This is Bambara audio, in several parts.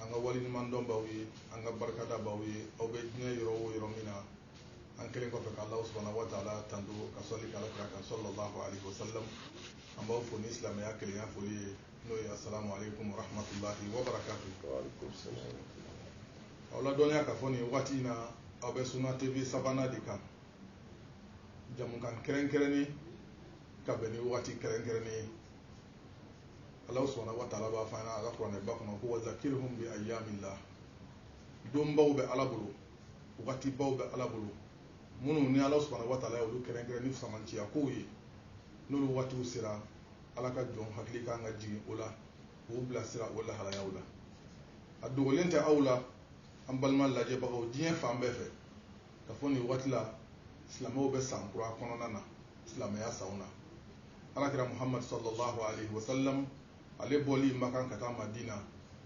an ka waleɲumandɔn baw ye an ka barikada baw ye aw bɛ diɲɛ yɔrɔ o yɔrɔ min na an kɛlen kɔfɛ ka Alahu subahana wataala tando ka sɔli kɛ alakira kan sɔlɔlahu alehi wasalamu an b'aw fo ni silamɛya kelenya foli ye n'o ye asalamu aleyikumu warahamatulahi wabarakatu aw ladɔnniya ka fɔ nin waati in na aw bɛ Suna TV Savana de kan jɛmukan kɛrɛnkɛrɛnnen ka bɛn ni waati kɛrɛnkɛrɛnnen ye ala subahana wa taala b'a fɔ an ɲɛ na a la kuranɛ ba kɔnɔ ko wazakirihum bi ayyamillah donbaw bɛ ala bolo wagatibaw bɛ ala bolo minnu ni ala subahana wa taala y'olu kɛrɛnkɛrɛn ni fisamanciya kow ye n'olu waatiw sera ala ka jɔn hakili kan ka jigin o la k'u bilasira o lahalayaw la a dogolen tɛ aw la an balima lajɛbagaw diɲɛ fan bɛɛ fɛ ka fɔ nin waati la silamɛw bɛ san kura kɔnɔna na silamɛya sanw na alakira muhammad sallallahu alaihi wasallam ale bɔli makan ka taa madina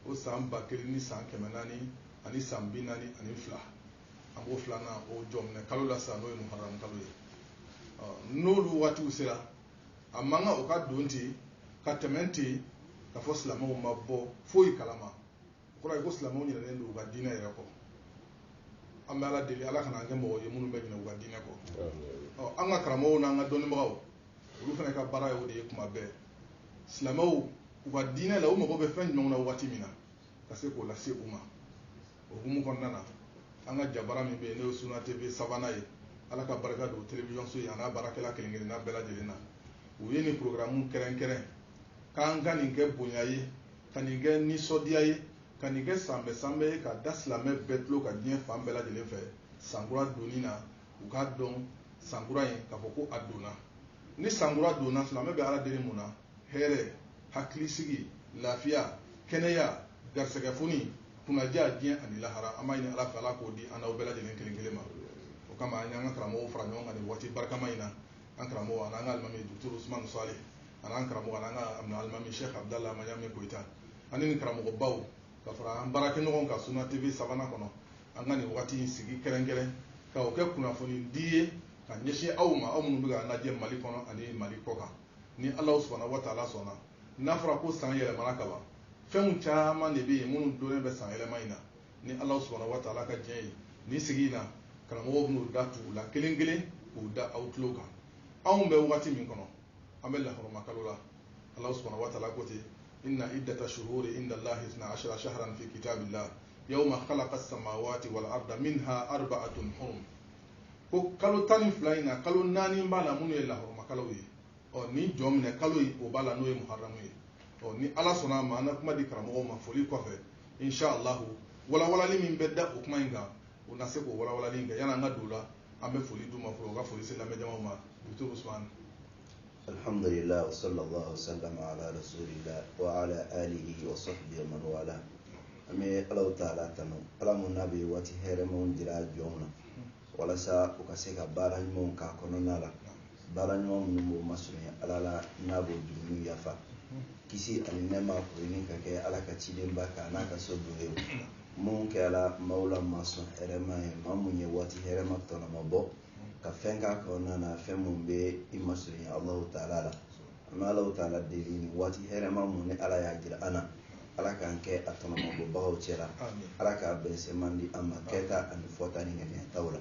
o san ba kelen ni san kɛmɛ naani ani san bi naani ani fila an b'o filanan o jɔminɛ kalo la sisan n'o ye muharram kalo ye n'olu waatiw sera a man kan o ka don ten ka tɛmɛ ten ka fɔ silamɛw ma bɔ foyi kalama O kɔrɔ ye ko silamɛw ɲinɛnen don u ka diinɛ yɛrɛ kɔ. An bɛ Ala deli Ala kana an kɛ mɔgɔ ye minnu bɛ ɲinɛ u ka diinɛ kɔ. Ɔ an ka karamɔgɔw n'an ka dɔnnibagaw, olu fana ka baara ye o de ye tuma bɛɛ. Silamɛw u ka diinɛ la, u mago bɛ fɛn jumɛnw na waati min na, ka se k'o lase u ma. O hukumu kɔnɔna na, an ka jabara min bɛ yen, n'o ye Sunna TV Savana ye, Ala ka barika don telewisɔnso in an'a baarakɛla kelen-kelenna bɛɛ lajɛlen na, u ye nin porogaramu kɛrɛnkɛrɛn. k'an ka nin kɛ bonya ye ka nin kɛ nisɔndiya ye ka nin kɛ sanbɛ sanbɛ ye ka da silamɛ bɛɛ tulo kan diɲɛ fan bɛɛ lajɛlen fɛ sankura donni na u k'a dɔn sankura in k'a fɔ ko a donna ni sankura donna silamɛ bɛ ala deli mun na hɛrɛ hakilisigi lafiya kɛnɛya garisɛgɛfoni kunnandiya diɲɛ ani lahara an b'a ɲini ala fɛ ala k'o di an n'aw bɛɛ lajɛlen kelen kelen ma o kama an y'an ka karamɔgɔw fara ɲɔgɔn kan nin waati barikama in na an karamɔgɔ an'an ka alimami duturu usumani sale an'an karamɔgɔ an'an ka amina alimami sheikh abdallah amayami koyita ani nin karamɔgɔbaw ka fara an baarakɛɲɔgɔn kan suna tv savana kɔnɔ an ka nin wagati in sigi kɛrɛnkɛrɛn ka o kɛ kunnafoni di ye ka ɲɛsin aw ma aw minnu bɛ k'an lajɛ mali kɔnɔ ani mali kɔkan ni alahu subahana wa taala sɔnna n'a fɔra ko san yɛlɛmana ka ban fɛnw caman de bɛ yen minnu donnen bɛ san yɛlɛma in na ni alahu subahana wa taala ka diɲɛ ye nin sigi in na karamɔgɔw bɛn'u da tugu u la kelen kelen k'u da aw tulo kan anw bɛ wagati min kɔnɔ an bɛ laharama kalo la ala subhanahu wa taala ko ten inna iddata shuhuri inda allahi isna ashara shaharan fi kitabillahi yawma khalaqa samawati wal arda minha arbaatun hurum ko kalo tan ni fila in na kalo naani b'a la minnu ye laharama kalo ye ɔ ni jɔnminɛ kalo o b'a la n'o ye muharamu ye ɔ ni ala sɔnna a ma an ka kuma di karamɔgɔw ma foli kɔfɛ inshallah walawalali min bɛ da o kuma in kan u na se k'o walawalali kɛ yan'an ka don o la an bɛ foli d'u ma fɔlɔ u ka foli se lamɛnjamaw ma docteur Ousmane alhamdulillah wa sallallahu sallam ala rasulillah wa ala alihi wa sahbihi wa man wala an bɛ alahu taala tanu ala mun n'a bɛ waati hɛrɛmanw jira jɔnw na walasa u ka se ka baara ɲumanw k'a kɔnɔna la baara ɲuman minnu b'o masurunya ala la n'a b'o jurumu yafa kisi ani nɛma o ɲini ka kɛ ala ka cidenba kan n'a ka sodenw minnu kɛra maaw la masɔn hɛrɛma ye maa mun ye waati hɛrɛma tɔnɔma bɔ ka fɛn k'a kɔnɔna na fɛn mun bɛ i masurunya alahu taala la an bɛ alahu taala deli nin waati hɛrɛma mun ni ala y'a jira an na ala k'an kɛ a tɔnɔmabɔbagaw cɛla ala k'a bɛnsenma di an ma kɛta ani fɔta ni ŋaniyataw la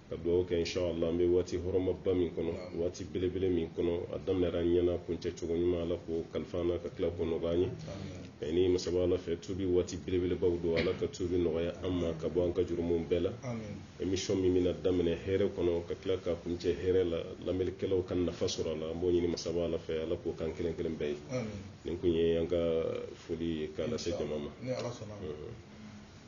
ka dugawu kɛ inshallah an bɛ waati hɔrɔmaba min kɔnɔ waati belebele min kɔnɔ a daminɛra an ɲɛna kuncɛ cogo ɲuman ala k'o kalifa an na ka tila k'o nɔgɔya an y'o ɲini masaba ala fɛ tubi waati belebelebaw don ala ka tubi nɔgɔya an ma ka bɔ an ka jurumunw bɛɛ la émission min bɛna daminɛ hɛrɛ kɔnɔ ka tila ka kuncɛ hɛrɛ la lamɛnnikɛlaw ka nafa sɔrɔ a la an b'o ɲini masaba ala fɛ ala k'o k'an kelen kelen bɛɛ ye nin tun ye an ka foli ye k'a lase jama ma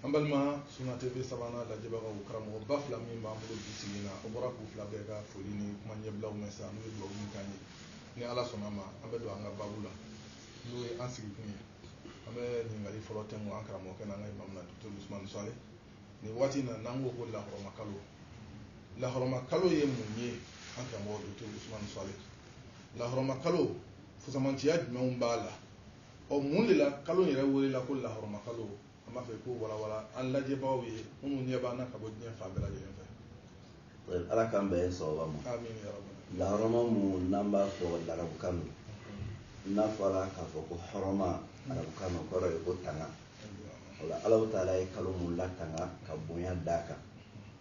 an balima sunna tv savana lajɛbagaw karamɔgɔba fila min b'an bolo bi sigi na aw bɔra k'u fila bɛɛ ka foli ni kuma ɲɛbilaw mɛn sa n'u ye dugawu min k'an ye ni ala sɔnna a ma an bɛ don an ka babu la n'o ye an sigikun ye an bɛ ɲininkali fɔlɔ tɛnku an karamɔgɔkɛ n'an ka imami na docteur ousmane solih nin waati na n'an ko ko lahɔrɔma kalo lahɔrɔma kalo ye mun ye an karamɔgɔ docteur ousmane solih lahɔrɔma kalo fusamantiya jumɛnw b'a la ɔ mun de la kalo yɛrɛ welela ko lahɔrɔma kalo an b'a fɛ k'o walawala an lajɛbaaw ye minnu ɲɛ b'an na ka bɔ diɲɛ fan bɛɛ lajɛlen fɛ ala k'an bɛɛ sababa ma lahɔrɔma mun n'an b'a fɔ larabukan na n'a fɔra k'a fɔ ko hɔrɔma arabukan na kɔrɔ ye ko tanga o la alahu taala ye kalo mun latanga ka bonya d'a kan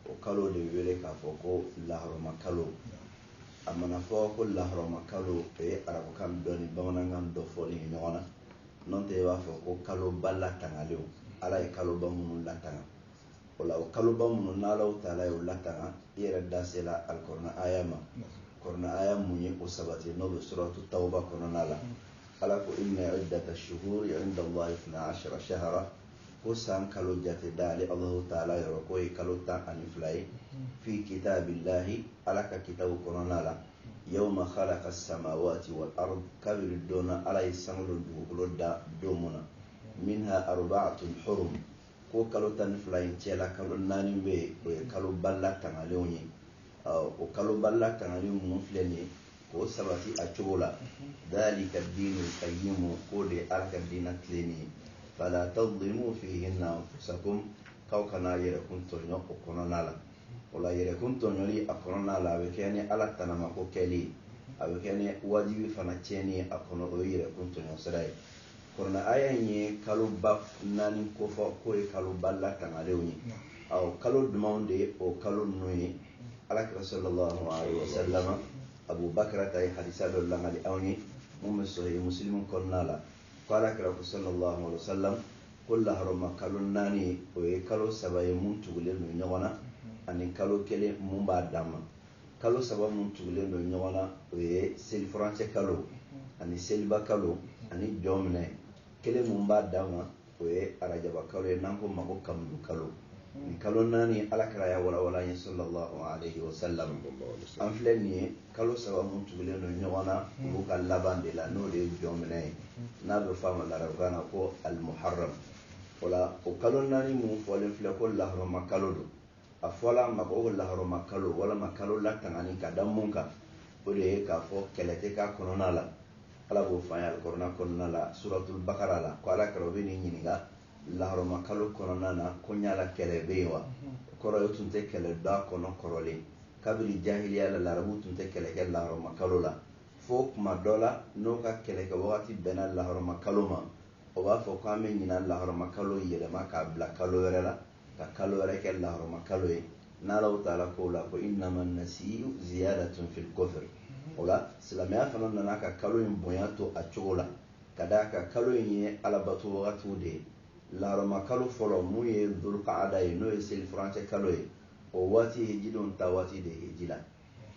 o kalo de wele k'a fɔ ko lahɔrɔma kalo a mana fɔ ko lahɔrɔma kalo o ye arabukan dɔ ni bamanankan dɔ fɔlen ɲɔgɔn na n'o tɛ i b'a fɔ ko kaloba latangalenw ala ye kaloba minnu latanga o la o kaloba minnu n'alahu taala y'o latanga i yɛrɛ da sela alikɔrɔna aya ma kɔrɔna aya mun ye o sabati n'o bɛ suratu tawuba kɔnɔna la ala ko inna iddata shuhuri inda allahi isna ashara shahara ko san kalo jate da ale alahu taala yɔrɔ k'o ye kalo tan ani fila ye fi kitabillahi ala ka kitabu kɔnɔna la yawma khalaka samawati wal ard kabiri don na ala ye sankolo ni dugukolo da don mun na minha arba'atun hurum ko kalo tan ni fila in cɛla kalo naani bɛ yen o ye kaloba latangalenw ye o kaloba latangalen mun filɛ nin ye k'o sabati a cogo la dalika diinul kayyimu k'o de ye ala ka diina tilennen ye fala tadlimu fihinna anfusakum k'aw kana yɛrɛkun tɔɲɔ o kɔnɔna la o la yɛrɛkun tɔɲɔli a kɔnɔna la a bɛ kɛ ni ala tanamako kɛli ye a bɛ kɛ ni wajibi fana tiɲɛni ye a kɔnɔ o ye yɛrɛkun tɔɲɔ sira ye kɔrɔna aya in ye kaloba naani kofɔ k'o ye kaloba latangalenw ye awɔ kalo dumanw de ye o kalo ninnu ye alakira sallallahu alaihi wasallam abubakarata ye hadisa dɔ lakali anw ye mun bɛ sahihi musilimu kɔnɔna la ko ala kira ko sallallahu alaihi wasallam ko lahɔrɔma kalo naani o ye kalo saba ye mun tugulen don ɲɔgɔn na ani kalo kelen mun b'a dan ma kalo saba mun tugulen don ɲɔgɔn na o ye selifurancɛ kalo ani seliba kalo ani jɔnminɛ kelen mun b'a dan ma o ye arajaba kalo ye n'an k'o ma ko kamudu kalo nin kalo naani ala kira y'a walawala ye sallallahu alaihi wasallam an filɛ nin ye kalo saba mun tugulen don ɲɔgɔn na hmm. olu ka laban de la n'o de ye jɔnminɛ ye hmm. n'a bɛ f'a ma larabukan na ko alimuharam o la o kalo naani mun fɔlen filɛ ko lahɔrɔma kalo don a fɔla a ma ko lahɔrɔma kalo walama kalo latangani ka da mun kan o de ye k'a fɔ kɛlɛ tɛ k'a kɔnɔna la ala b'o fɔ an ye alikɔrɔna kɔnɔna la suratul bakara la ko ala kira o bɛn'i ɲininka Lahɔrɔma kalo kɔnɔna na ko ɲala kɛlɛ bɛ yen wa kɔrɔ o tun tɛ kɛlɛ d'a kɔnɔ kɔrɔlen kabini jahiliya la larabu tun tɛ kɛlɛ kɛ lahɔrɔma kalo la fo kuma dɔ la n'o ka kɛlɛ kɛ wagati bɛnna lahɔrɔma kalo ma o b'a fɔ ko an bɛ ɲinan lahɔrɔma kalo yɛlɛma k'a bila kalo wɛrɛ la ka kalo wɛrɛ kɛ lahɔrɔma kalo ye n'alahu taala k'o la ko innama nasiyu ziyadatun fil kufr o la silamɛya fana nana ka kalo in bonya to a cogo la ka d'a kan kalo in ye alabato wagatiw de ye lahɔrɔma kalo fɔlɔ mun ye dulukaada ye n'o ye selifurancɛ kalo ye o waati ye hejidenw ta waati de ye heji la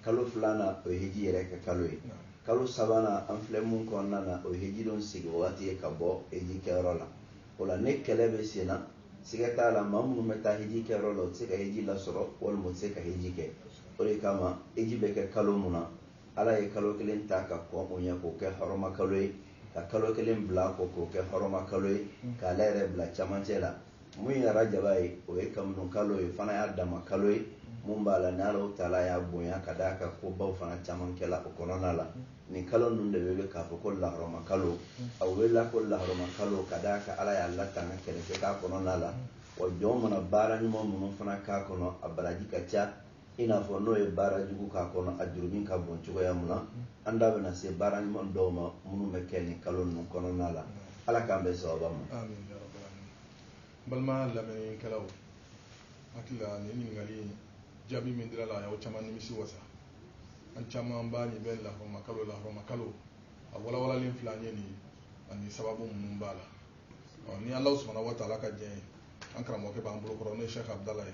kalo filanan o ye heji yɛrɛ kɛ kalo ye kalo sabanan an filɛ mun kɔnɔna na o ye hejidenw segin wagati ye ka bɔ heji kɛyɔrɔ la o la ni kɛlɛ bɛ sen na siga t'a la maa minnu bɛ taa heji kɛyɔrɔ la u tɛ se ka heji lasɔrɔ walima u tɛ se ka heji kɛ o de kama heji bɛ kɛ kalo mun na ala ye kalo kelen ta ka kɔn o ɲɛ k'o kɛ hɔrɔma kalo ye ka kalo kelen bila kɔ k'o kɛ hɔrɔma kalo ye k'ale yɛrɛ bila camancɛ la mun ye arajaba ye o ye kamunu kalo ye fana y'a dama kalo ye mun b'a la n'alahu taala y'a bonya ka d'a kan kobaw fana caman kɛla o kɔnɔna la nin kalo ninnu de wele k'a fɔ ko lahɔrɔma kalo a welela ko lahɔrɔma kalo ka d'a kan ala y'a latanga kɛlɛ tɛ k'a kɔnɔna la wa jɔn mana baara ɲuman minnu fana k'a kɔnɔ a baraji ka ca i n'a fɔ n'o ye baara jugu k'a kɔnɔ a jurumu ka bon cogoya mun na an da bɛna se baara ɲuman dɔw ma minnu bɛ kɛ nin kalo ninnu kɔnɔna la ala k'an bɛɛ sababa ma balima lamɛnnikɛlaw hakili la nin ɲininkali in jaabi min dira la a y'aw caman nimisi wasa an caman b'a nin bɛ lahɔrɔma kalo lahɔrɔma kalo a walawalalen filɛ an ye nin ani sababu minnu b'a la ni ala subhanahu wa taala ka jɛn ye an karamɔgɔkɛ b'an bolo kɔrɔ n'o ye sɛki abudala ye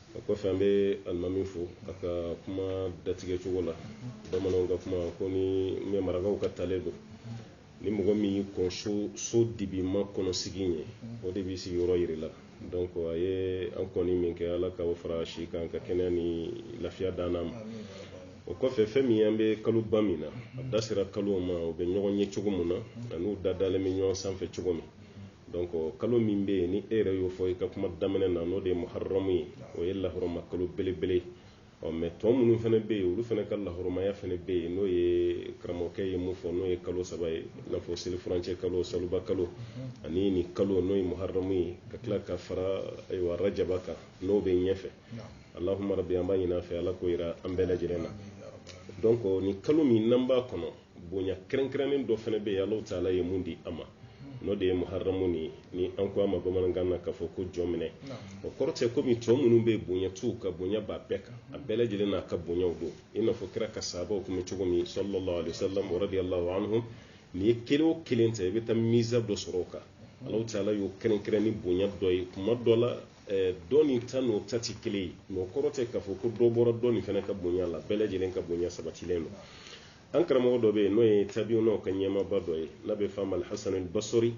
o kɔfɛ an bɛ alimami fo a ka kuma datigɛ cogo la bamananw ka kuma kɔni mais marakaw ka talen don ni mɔgɔ min y'i kɔn so so dibima kɔnɔ sigi ye o de b'i sigiyɔrɔ jira la donc a ye an kɔni min kɛ ala k'o fara si kan ka kɛnɛya ni lafiya d'an ma o kɔfɛ fɛn min an bɛ kalo ba min na a da sera kalo ma u bɛ ɲɔgɔn ye cogo min na ani n'u da dalen bɛ ɲɔgɔn sanfɛ cogo min donc kalo min bɛ yen ni e yɛrɛ y'o fɔ i ka kuma daminɛ na n'o de ye muharramu ye o ye lahɔrɔma kalo belebele ɔ mais tɔ minnu fana bɛ yen olu fana ka lahɔrɔmaya fana bɛ yen n'o ye karamɔgɔkɛ ye mun fɔ n'o ye kalo saba ye i n'a fɔ selifurancɛ kalo seliba kalo ani nin kalo n'o ye muharramu ye ka tila ka fara ayiwa rajaba kan n'o bɛ ɲɛfɛ allahumma rabbi an b'a ɲin'a fɛ ala k'o jira an bɛɛ lajɛlen na donc nin kalo min n'an b'a kɔnɔ bonya kɛrɛnkɛrɛnnen dɔ fana bɛ yen alahu taala ye mun di an ma n'o de ye muharamu ni ni an ko a ma bamanankan na k'a fɔ ko jɔnminɛ o kɔrɔ tɛ komi tɔ minnu bɛ bonya t'u kan bonya b'a bɛɛ kan a bɛɛ lajɛlen n'a ka bonyaw don i n'a fɔ kira ka sahabaw tun bɛ cogo min sallallahu alaihi wasallam radiyallahu anhum n'i ye kelen o kelen ta i bɛ taa miza dɔ sɔrɔ o kan alahu taala y'o kɛrɛnkɛrɛn ni bonya dɔ ye kuma dɔ la Eh, dɔ nin ta n'o ta tɛ kelen ye mais o kɔrɔ tɛ k'a fɔ ko dɔ bɔra dɔ nin fana ka bonya la bɛɛ lajɛlen ka bonya sabatilen don an karamɔgɔ dɔ bɛ yen n'o ye tabiunaw ka ɲɛmaaba dɔ ye n'a bɛ f'a ma alhasan basri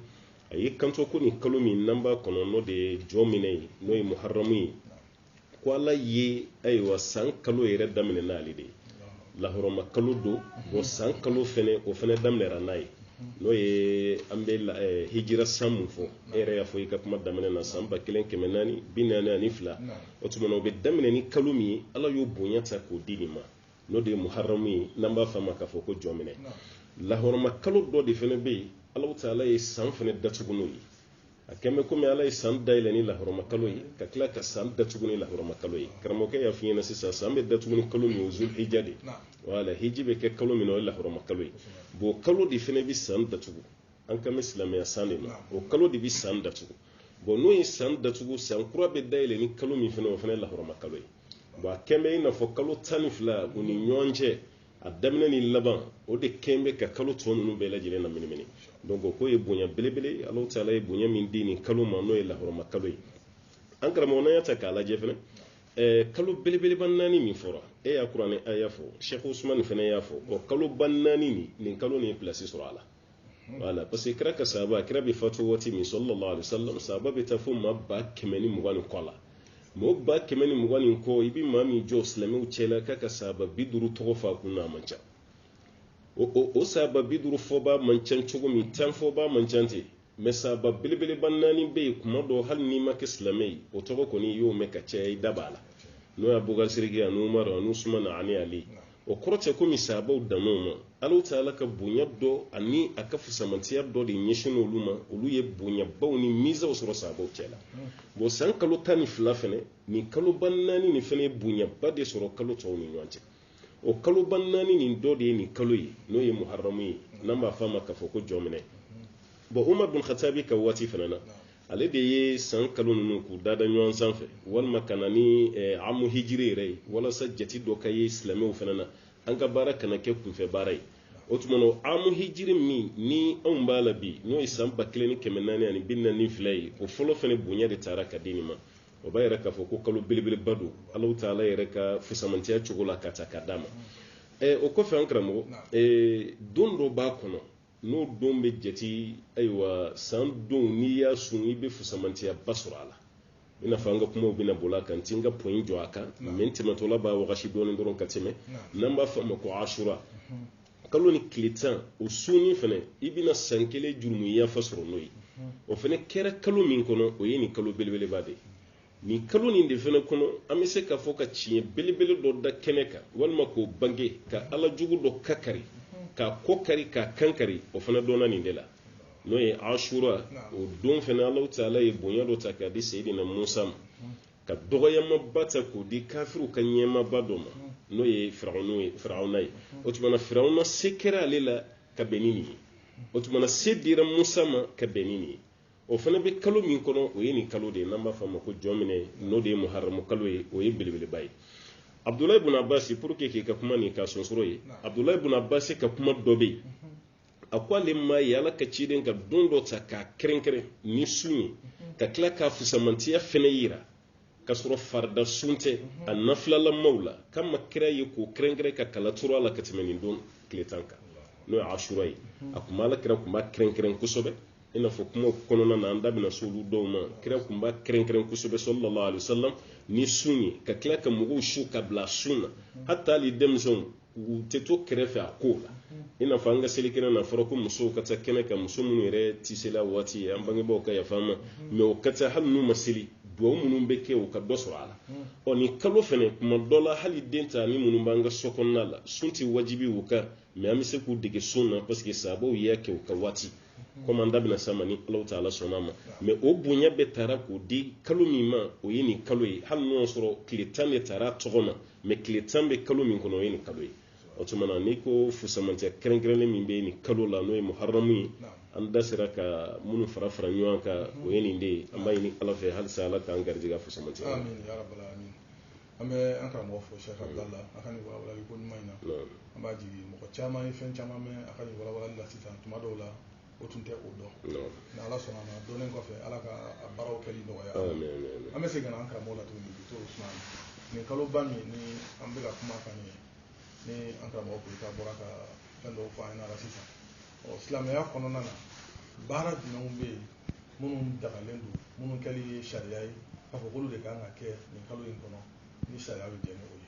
a y'i kanto ko nin kalo min n'an b'a kɔnɔ n'o de ye jɔnminɛ ye n'o ye muharamu ye ko ala ye ayiwa san kalo yɛrɛ daminɛ n'ale de ye lahɔrɔma kalo don o san kalo fɛnɛ o fɛnɛ daminɛra n'a ye n'o ye an bɛ eh, hijira san mun fɔ e yɛrɛ y'a fɔ i ka kuma daminɛ na san ba kelen kɛmɛ naani bi naani ani fila o tuma na o bɛ daminɛ ni kalo min ye ala y'o bonya ta k'o di nin ma n'o de ye muharamu ye n'an b'a f'a ma k'a fɔ ko jɔnminɛ lahɔrɔma kalo dɔ de fana bɛ yen alahu taala ye san fana datugu n'o ye a kɛlen bɛ komi ala ye san dayɛlɛ ni lahɔrɔma kalo ye ka tila ka san datugu ni lahɔrɔma kalo ye karamɔgɔkɛ y'a f'i ɲɛna sisan san bɛ datugu ni kalo min ye zul hija de wala hiji bɛ kɛ kalo min na o ye lahɔrɔma kalo ye bon kalo de fana bɛ san datugu an kan bɛ silamɛya san de ma o kalo de bɛ san datugu bɔn n'o ye san datugu san kura bɛ dayɛlɛ ni kalo min fana o fana ye lahɔrɔma kalo ye bɔn a kɛn bɛ i n'a fɔ kalo tan ni fila u ni ɲɔgɔn cɛ a daminɛ ni laban o de kɛn bɛ ka kalo tɔ ninnu bɛɛ lajɛlen na minimini donc o ko ye bonya belebele ye alahu taala ye bonya min di nin kalo ma n'o ye lahɔrɔma kalo ye an karamɔgɔ n'an y'a ta k'a lajɛ fana ɛɛ kalo belebeleba naani min fɔra e y'a kuranɛ aya fɔ sɛki usumani fana y'a fɔ o kaloba naani nin nin kalo nin ye pilasi sɔrɔ a la wala parce que kira ka sahaba kira bɛ fatu waati min sallallahu alaihi wasallam sahaba bɛ taa fo maa ba kɛmɛ ni mugan ni kɔ la mɔgɔ ba kɛmɛ ni mugan ni kɔ i bɛ maa min jɔ silamɛw cɛla k'a ka sahaba bi duuru tɔgɔ fɔ a kun na a man ca o o o sahaba bi duuru fɔba man ca cogo min tan fɔba man ca ten mɛ sahaba belebeleba naani bɛ yen kuma dɔ hali n'i ma kɛ silamɛ ye o tɔgɔ kɔni i y'o mɛn ka caya i da b'a la n'o ye abubakari sidiki ani umaru ani usumana ani ali o kɔrɔ tɛ komi sahabaw dann'o ma alahu taala ka bonya dɔ ani a ka fusamantiya dɔ de ɲɛsin olu ma olu ye bonyabaw ni mizaw sɔrɔ sahabaw cɛ la bon san kalo tan ni fila fana nin kaloba naani nin fana ye bonyaba de sɔrɔ kalo tɔw ni ɲɔgɔn cɛ o kaloba naani nin dɔ de ye nin kalo ye n'o ye muharamu ye n'an b'a fɔ a ma k'a fɔ ko jɔminɛ bɔn umar bin khatabi ka waati fana na ale de ye san kalo ninnu k'u dada ɲɔgɔn sanfɛ walima ka na ni eh, amu hijiri yɛrɛ ye walasa jati dɔ ka ye silamɛw fana na an ka baara kana kɛ kunfɛ baara ye o tuma na amu hijiri min ni anw b'a la bi n'o ye san ba kelen ni kɛmɛ naani ani bi naani fila ye o fɔlɔ fana bonya de tara ka di nin ma o b'a yira k'a fɔ ko kalo belebeleba don alahu taala yɛrɛ ka fusamantiya cogo la k'a ta k'a d'a ma eh, o kɔfɛ an karamɔgɔ eh, don dɔ b'a kɔnɔ n'o don bɛ jate ayiwa san don n'i y'a sun i bɛ fusamantiyaba sɔrɔ a la i n'a fɔ an ka kumaw bɛna boli a kan n tɛ n ka point jɔ a kan mɛ n tɛmɛtɔla b'a wagasi dɔɔnin dɔrɔn ka tɛmɛ n'an b'a fɔ a ma ko asura kalo nin tile tan o sunni fana i bɛna san kelen jurumu yafa sɔrɔ n'o ye o fana kɛra kalo min kɔnɔ o ye nin kalo belebeleba de ye nin kalo nin de fana kɔnɔ an bɛ se k'a fɔ ka tiɲɛ belebele dɔ da kɛnɛ kan walima k'o bange ka ala jugu dɔ kakari k'a kɔ kari k'a kan kari o fana dɔnna nin de la n'o ye asura o don fana ala taala ye bonya dɔ ta k'a di seyidina musa ma ka dɔgɔyamaba ta k'o di kafiriw ka ɲɛmaaba dɔ ma n'o ye firawuna ye o tuma na firawuna se kɛra ale la ka bɛn ni nin ye o tuma na se dira musa ma ka bɛn ni nin ye o fana bɛ kalo min kɔnɔ o ye nin kalo de ye n'an b'a fɔ a ma ko jɔminɛ n'o de ye muharamu kalo ye o ye belebeleba ye abudulayi bun abasi pour que k'i ka kuma nin ka sonsoro ye abudulayi bun abasi ka kuma dɔ bɛ yen a ko ale m'a ye ala ka ciden ka don dɔ ta k'a kɛrɛnkɛrɛn ni sun ye ka tila k'a fusamantiya fana yira k'a sɔrɔ farida sun tɛ a nafilalamaw la k'a ma kira ye k'o kɛrɛnkɛrɛn ka kala turu a la ka tɛmɛ nin don tile tan kan n'o ye asura ye a kun b'a la kira kun b'a kɛrɛnkɛrɛn kosɛbɛ i n'a fɔ kuma kɔnɔna na an da bɛna s'olu dɔw ma kira kun b'a kɛrɛnkɛrɛn kosɛbɛ sallallahu alaihi wasallam ni sun ye ka tila ka mɔgɔw su ka bila sun na hata hali denmisɛnw u tɛ to kɛrɛfɛ a ko la i n'a fɔ an ka selikɛnɛ n'a fɔra ko musow ka taa kɛnɛ kan muso minnu yɛrɛ tɛ seli a waati an bangebaaw ka yafa ma mais o ka taa hali n'u ma seli dugawu minnu bɛ kɛ u ka dɔ sɔrɔ a la ɔ nin kalo fana kuma dɔ la hali den ta ni minnu b'an ka so kɔnɔna la sun tɛ wajibi u kan mais an bɛ se k'u dege sun na parce que sahabaw y'a kɛ u ka waati comme an da bɛna s'a ma ni alahu ta'ala sɔnna ma mais o bonya bɛɛ taara k'o di kalo min ma o ye nin kalo ye hali n'o y'a sɔrɔ tile tan de taara a tɔgɔ ma mais tile tan bɛ kalo min kɔnɔ o ye nin kalo ye o tuma na n'i ko fusamantiya kɛrɛnkɛrɛnnen min bɛ nin kalo la n'o ye muharamu ye an da sera ka minnu fara fara ɲɔgɔn kan o ye nin de ye an b'a ɲini ala fɛ halisa ala k'an garijɛgɛ fusamantiya amin ya rabbal alamin an bɛ an karamɔgɔ fo sheikh abdallah a ka nin walawalali ko ɲuman in na an b'a jigi mɔgɔ caman ye fɛn caman mɛn a ka nin walawalali la sisan tuma dɔw la o tun tɛ o dɔn ni ala sɔnna ma dɔnnen kɔfɛ ala ka a baaraw kɛli nɔgɔya an bɛ segin ka na an karamɔgɔ la tuguni bi to usman nin kaloba min ni an bɛ ka kuma kan ye ni an karamɔgɔ koyita bɔra ka fɛn dɔw fɔ an ɲɛna sisan ɔ silamɛya kɔnɔna na baara jumɛnw bɛ yen minnu dagalen don minnu kɛli ye sariya ye k'a fɔ k'olu de kan ka kɛ nin kalo in kɔnɔ ni sariya bɛ jɛn ni o ye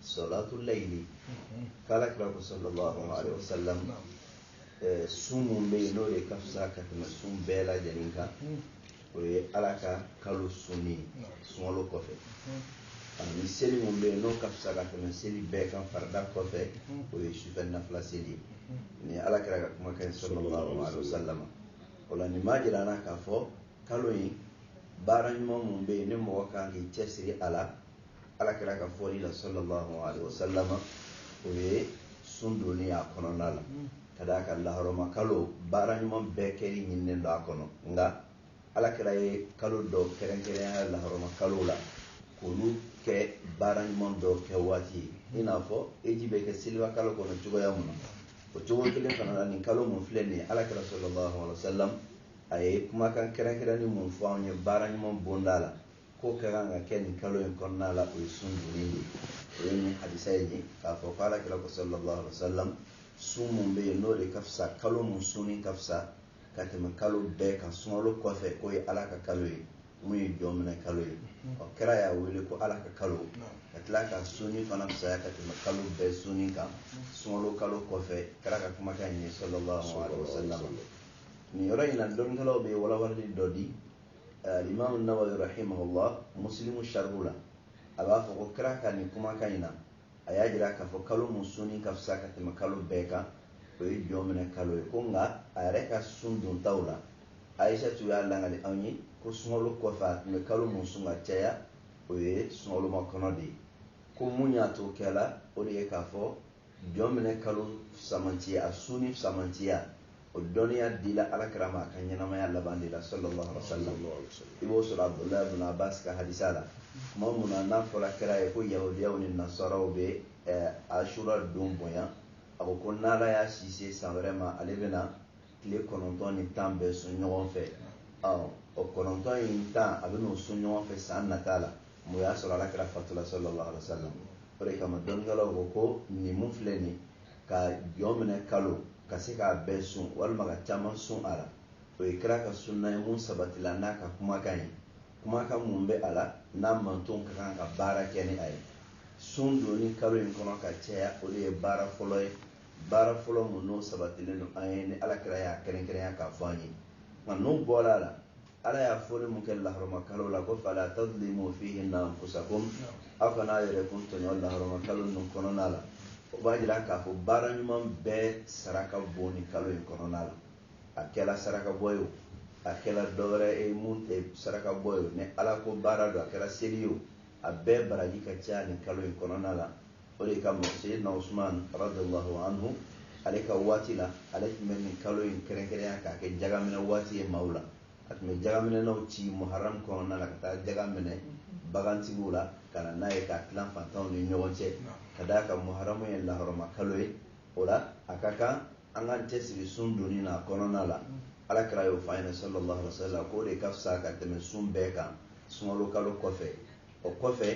salatu layili k'ala kira ko sallallahu alaihi wasallam eh, sun mun bɛ yen n'o de ka fisa ka tɛmɛ sun bɛɛ lajɛlen kan o ye ala ka kalo sunni sunkalo kɔfɛ ani seli mun bɛ yen n'o ka fisa ka tɛmɛ seli bɛɛ kan farida kɔfɛ o ye sufɛ nafila seli ye ni ala kira ka kumakan ye sallallahu alaihi wasallam o la nin b'a jira an na k'a fɔ kalo in baara ɲuman mun bɛ yen ni mɔgɔ kan k'i cɛsiri a la ala kira ka fɔli la sallallahu alaihi wasallam o ye sun donni a kɔnɔna la ka d'a kan laharɔma kalo baara ɲuman bɛɛ kɛli ɲininen don a kɔnɔ nka ala kira ye kalo dɔ kɛrɛnkɛrɛnya laharɔma kalo la k'olu kɛ baara ɲuman dɔ kɛ waati ye i n'a fɔ eji bɛ kɛ seliba kalo kɔnɔ cogoya mun na o cogo kelen fana la nin kalo mun filɛ nin ye ala kira sallallahu alaihi wasallam a ye kumakan kɛrɛnkɛrɛnnen mun fɔ an ye baara ɲuman bonda la k'o ka kan ka kɛ nin kalo in kɔnɔna la o ye sun donni de o ye nin hadisa in ye k'a fɔ ko ala kira ko sallallahu alaihi wa sallam sun mun bɛ yen n'o de ka fisa kalo mun sunni ka fisa ka tɛmɛ kalo bɛɛ kan sunkalo kɔfɛ k'o ye ala ka kalo ye mun ye jɔnminɛ kalo ye ɔ kira y'a wele ko ala ka kalo ka tila k'a sunni fana fisaya ka tɛmɛ kalo bɛɛ sunni kan sunkalo kalo kɔfɛ kira ka kumakan in ye sallallahu alaihi wa sallam nin yɔrɔ in na dɔnnikɛlaw bɛ walawalali dɔ di limamu nawawi rahimahullah muslimu sharhu la a b'a fɔ ko kira ka nin kumakan in na a y'a jira k'a fɔ kalo mun sunni ka fisa ka tɛmɛ kalo bɛɛ kan o ye jɔnminɛ kalo ye ko nka a yɛrɛ ka sun dontaw la ayisa tun y'a lakali anw ye ko sunkalo kɔfɛ a tun bɛ kalo mun sun ka caya o ye sunkalomakɔnɔ de ye ko mun y'a to kɛla o de ye k'a fɔ jɔnminɛ kalo samantiya a sunni samantiya o dɔnniya dila ala kira ma a ka ɲɛnamaya laban de la sallallahu alaihi wasallam i b'o sɔrɔ abdullahi ibn abbas ka hadisa la tuma mun na n'a fɔra kira ye ko yahudiyaw ni nasaraw bɛ eh, ashura don bonya a ko ko n'ala y'a si se san wɛrɛ ma ale bɛna tile kɔnɔntɔn ni tan bɛɛ sun ɲɔgɔn fɛ o kɔnɔntɔn ni tan a bɛn'o sun ɲɔgɔn fɛ san nata la mun y'a sɔrɔ ala kira fatula sallallahu alaihi wasallam o de kama dɔnnikɛlaw ko ko nin mun filɛ nin ka jɔnminɛ kalo ka se k'a bɛɛ sun walima ka caman sun a la o ye kira ka sunna ye mun sabatila n'a ka kumakan ye kumakan mun bɛ a la n'a mantonw ka kan ka baara kɛ ni a ye sun donni kalo in kɔnɔ ka caya o de ye baara fɔlɔ ye baara fɔlɔ mun n'o sabatilen don an ye ni ala kira y'a kɛrɛnkɛrɛnya k'a fɔ an ye nka n'o bɔra a la ala y'a fɔli mun kɛ laharama kalo la ko fala tadlimu fihinna anfusakum aw kana aw yɛrɛkun tɔɲɔ laharama kalo ninnu kɔnɔna la o b'a jira k'a fɔ baara ɲuman bɛɛ sara ka bon nin kalo in kɔnɔna la a kɛla saraka bɔ ye o a kɛla dɔwɛrɛ ye mun tɛ saraka bɔ ye o ni ala ko baara don a kɛra seli ye o a bɛɛ baraji ka ca nin kalo in kɔnɔna la o de kama seyidina usman radiallahu anhu ale ka waati la ale tun bɛ nin kalo in kɛrɛnkɛrɛnya k'a kɛ jagaminɛ waati ye maaw la a tun bɛ jagaminɛnaw ci muharam kɔnɔna la ka taa jaga minɛ bagantigiw la ka na n'a ye k'a tilan fantanw ni ɲɔgɔn cɛ ka d'a kan muharamu ye laharama kalo ye o la a ka kan an k'an cɛsiri sun donni na kɔnɔna la ala kira y'o fɔ an ɲɛna sallallahu alaihi wa sallam k'o de ka fisa ka tɛmɛ sun bɛɛ kan sunkalo kalo kɔfɛ o kɔfɛ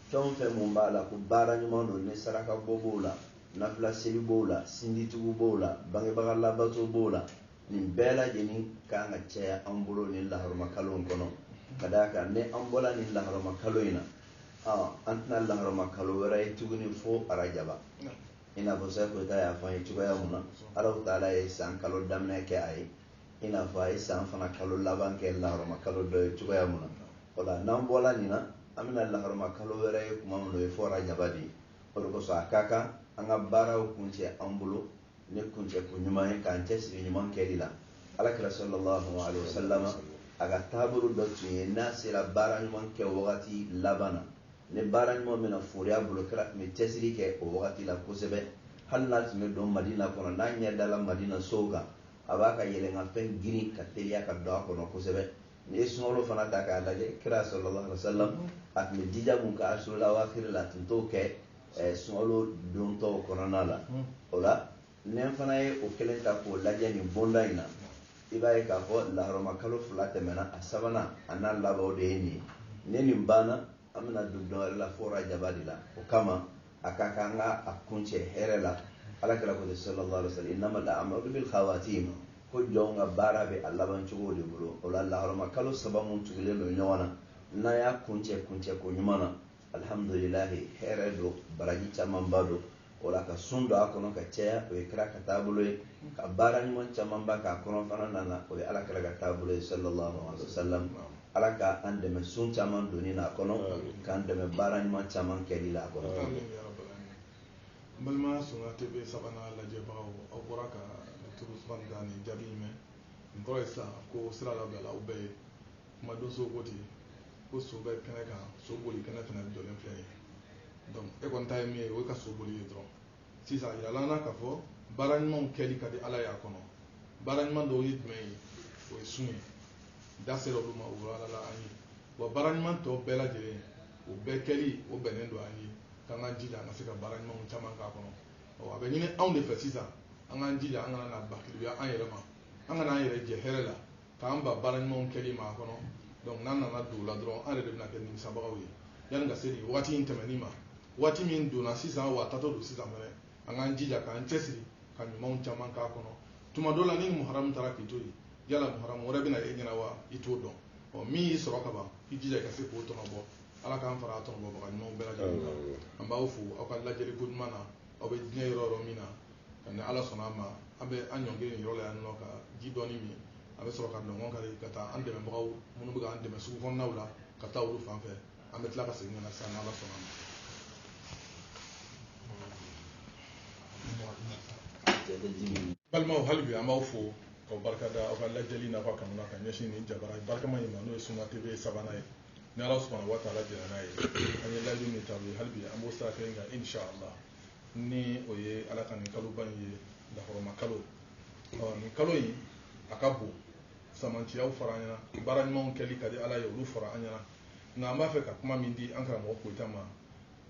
fɛn o fɛn mun b'a la ko baara ɲuman don ni saraka bɔ b'o la nafila seli b'o la sinjitugu b'o la bangebaga labato b'o la nin bɛɛ lajɛlen kan ka caya an bolo nin laharama kalo in kɔnɔ ka d'a kan ni an bɔla nin laharama kalo in na an tɛna laharama kalo wɛrɛ ye tuguni fo arajaba i n'a fɔ seku koyita y'a fɔ an ye cogoya mun na alahu taala ye san kalo daminɛ kɛ a ye i n'a fɔ a ye san fana kalo laban kɛ laharama kalo dɔ ye cogoya mun na o la n'an bɔla nin na an bɛna laharama kalo wɛrɛ ye kuma min na o ye fo arajaba de ye o de kosɔn a ka kan an ka baaraw kuncɛ an bolo ni kuncɛko ɲuman ye k'an cɛsiri ɲuman kɛli la ala kira sallallahu alaihi wasallam a ka taabolo dɔ tun ye n'a sera baara ɲuman kɛ wagati laban na ni baara ɲuman bɛna fori a bolo kira tun bɛ cɛsiri kɛ o wagati la kosɛbɛ hali n'a tun bɛ don madina kɔnɔ n'a ɲɛ dala madina sow kan a b'a ka yɛlɛnkanfɛn girin ka teliya ka don a kɔnɔ kosɛbɛ n'i ye sunkalo fana ta k'a lajɛ kira sallallahu alaihi wasallam a tun bɛ jija mun kɛ asurul awakiri la a tun t'o kɛ eh, sunkalo don tɔw kɔnɔna la hmm. o la ni an fana ye o kelen ta k'o lajɛ nin bonda in na i b'a ye k'a fɔ lahɔrɔma kalo fila tɛmɛna a sabanan a n'a laban de ye nin ye ni nin banna an bɛna don dɔ wɛrɛ la fo rajaba de la o kama a ka kan an ka a kuncɛ hɛrɛ la ala kira ko sallallahu alaihi wasallam innamal a'malu bil khawatim ko jɔnw ka baara bɛ a laban cogo de bolo o la laharama kalo saba mun tugulen don ɲɔgɔn na n'a y'a kuncɛ kuncɛko ɲuman na alhamdulilahi hɛrɛ don baraji camanba don o la ka sun don a kɔnɔ ka caya o ye kira ka taabolo ye ka baara ɲuman camanba k'a kɔnɔ fana nana o ye ala kira ka taabolo ye sallallahu alaihi wasallam ala ka an dɛmɛ sun caman donni na a kɔnɔ k'an dɛmɛ baara ɲuman caman kɛli la a kɔnɔ balima sunna tv sabanan lajɛbagaw aw bɔra ka dɔkitɛri usumani da nin jaabi in mɛn nin kɔrɔ ye sisan ko sira labila aw bɛɛ ye kumadonsow ko ten ko so bɛ kɛnɛ kan so boli kɛnɛ fana jɔlen filɛ ye donc e kɔni ta ye min ye o ye ka so boli ye dɔrɔn sisan yirala an na k'a fɔ baara ɲumanw kɛli ka di ala y'a kɔnɔ baara ɲuman dɔw ye jumɛn ye o ye sun ye da sera olu ma o yirala an ye wa baara ɲuman tɔ bɛɛ lajɛlen o bɛɛ kɛli o bɛnnen don an ye k'an ka jija an ka se ka baara ɲumanw caman k'a kɔnɔ a bɛ ɲini anw de fɛ sisan an k'an jija an kana na bakiliya an yɛrɛ ma an kana an yɛrɛ jɛ hɛrɛ la k'an ban baara ɲumanw kɛli ma a kɔnɔ donc n'an nana don o la dɔrɔn an yɛrɛ de bɛna kɛ nimisabagaw ye yanni ka se nin waati in tɛmɛni ma waati min donna sisan wa a taatɔ don sisan fɛnɛ an k'an jija k'an cɛsiri ka ɲumanw caman k'a kɔnɔ tuma dɔ la ni muharamu taara k'i to yen yala muharamu wɛrɛ bɛ na e ɲɛna wa i t'o dɔn ɔ min y'i sɔrɔ ka ban i jija i ka se k'o tɔnɔbɔ ala k'an fara a tɔnɔbɔbaga ɲumanw bɛɛ lajɛlen kan an b'aw fo aw ka lajɛliko ɲuman na aw bɛ diɲɛ yɔrɔ yɔrɔ min na nka ni ala sɔnna a ma an bɛ an ɲɔngiri nin yɔrɔ la yan nɔ ka ji dɔɔni min an bɛ sɔrɔ ka nɔnkɔn kari ka taa an dɛmɛbagaw minnu bɛ k'an dɛmɛ sugu kɔnɔnaw la ka taa olu fan fɛ an bɛ tila ka segin ka na sisan n'ala sɔnna ma balimaw hali bi an b'aw fo ka barika da aw ka lajɛli n'aw ka kanu na ka ɲɛsin nin jabara barikama in ma n'o ye sunna tv sabanan ye ni ala subhanahu wa taala jɛnna n'a ye an ye layidu min ta aw ye hali bi an b'o sira kelen kan inshallah ni o ye ala ka nin kaloba in ye lahɔrɔma kalo ɔ nin kalo in a ka bon sɛmɛnciyaw fɔra an ɲɛna baara ɲumanw kɛli ka di ala ye olu fɔra an ɲɛna nka an b'a fɛ ka kuma min di an karamɔgɔ koyita ma